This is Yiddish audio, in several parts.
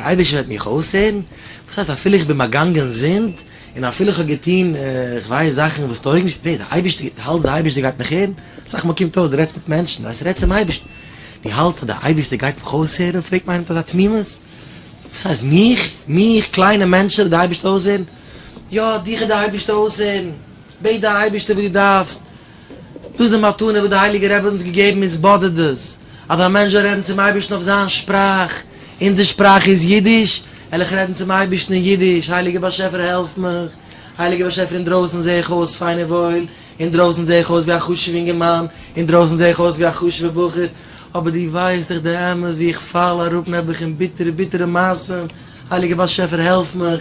דער אייבערשטער וועט מיך אויסהערן, וואס הייסט אפילו איך בין באגאנגען זינד, און אפילו איך האב געטון כ'ווייס זאכן וואס טויגן נישט, ווער? דער אייבערשטער? דו האלטסט דער אייבערשטער גייט מיך הערן? אסאך מאל קומט אויס דו רעדסט מיט מענטשן, ווייסט רעד צום אייבערשטן, דו האלטסט אז דער אייבערשטער גייט מיך אויסהערן? פרעגט מיר איינער מיט אזא תמימות, וואס הייסט מיך? מיך? קליינע מענטשעלע וועט דער אייבערשטער אויסהערן? יא, דיך וועט דער אייבערשטער אויסהערן, בעט דער אייבערשטער וואס דו דארפסט, דאס די מתנה וואס די הייליגע רבי האט אונז געגעבן איז באדערט דאס אז א מענטש זאל רעדן צום אייבערשטן אויף זיין שפראך, אונזער שפראך איז אידיש, וועל איך רעדן צום אייבערשטן אין אידיש, הייליגער באשעפער העלף מיך, הייליגער באשעפער אינדרויסן זעה איך אויס פיין און וואויל, אינדרויסן זעה איך אויס ווי א חשוב'ע אינגערמאן, אינדרויסן זעה איך אויס ווי א חשוב'ע בחור, אבער דו ווייסט דאך די אמת ווי איך פאל אראפ נעבעך אין ביטערע ביטערע מעשים, הייליגער באשעפער העלף מיך,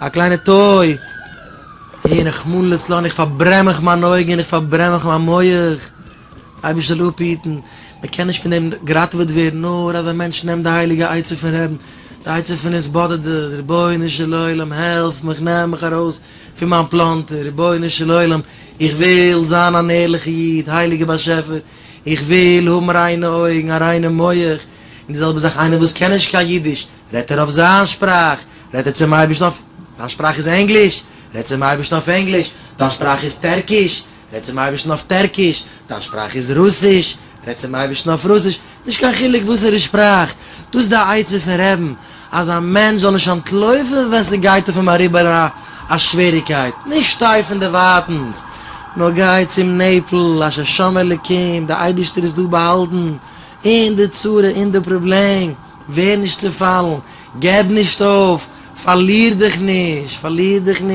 א קליינע טוי! אה, רחמנא לצלן, איך פארברען מיך מיין אויגן און איך פארברען מיך מיין מח! אייבישטער זאל אפהיטן מען קען נישט פון דעם געראטעוועט ווערן נאר אז א מענטש נעמט די הייליגע עצה פון רעדן, די עצה פון התבודדות, רבונו של עולם העלף מיך נעם מיך ארויס פון מיין פלאנטער, רבונו של עולם איך וויל זיין אן ערליכע איד, הייליגע באשעפער איך וויל האבן ריינע אויגן, א ריינע מח, און די זעלבע זאך איינער וואס קען נישט קיין אידיש רעדט ער אויף זיין שפראך, רעדט ער צום אייבערשטן אויף, דיין שפראך איז ענגליש, רעדט צום אייבערשטן אויף ענגליש, דיין שפראך איז טערקיש, רעדט צום אייבערשטן אויף טערקיש, דיין שפראך איז רוסיש, רעדט צום אייבערשטן אויף רוסיש, נישט קיין חילוק וואסערע שפראך, דאס איז די עצה פון רעבן, אז א מענטש זאל נישט אנטלויפן ווען ס'גייט אויף אים אריבער א שוועריגקייט, נישט שטיי פון דערווייטענס, נאר גיי צום נעפל, אשר שם אלוקים, די אייבערשטער איז דא באהאלטן, אין די צרה, אין די פראבלעם. ווער נישט צעפאלן, געב נישט אויף, פארליר דיך נישט, פארליר דיך נישט.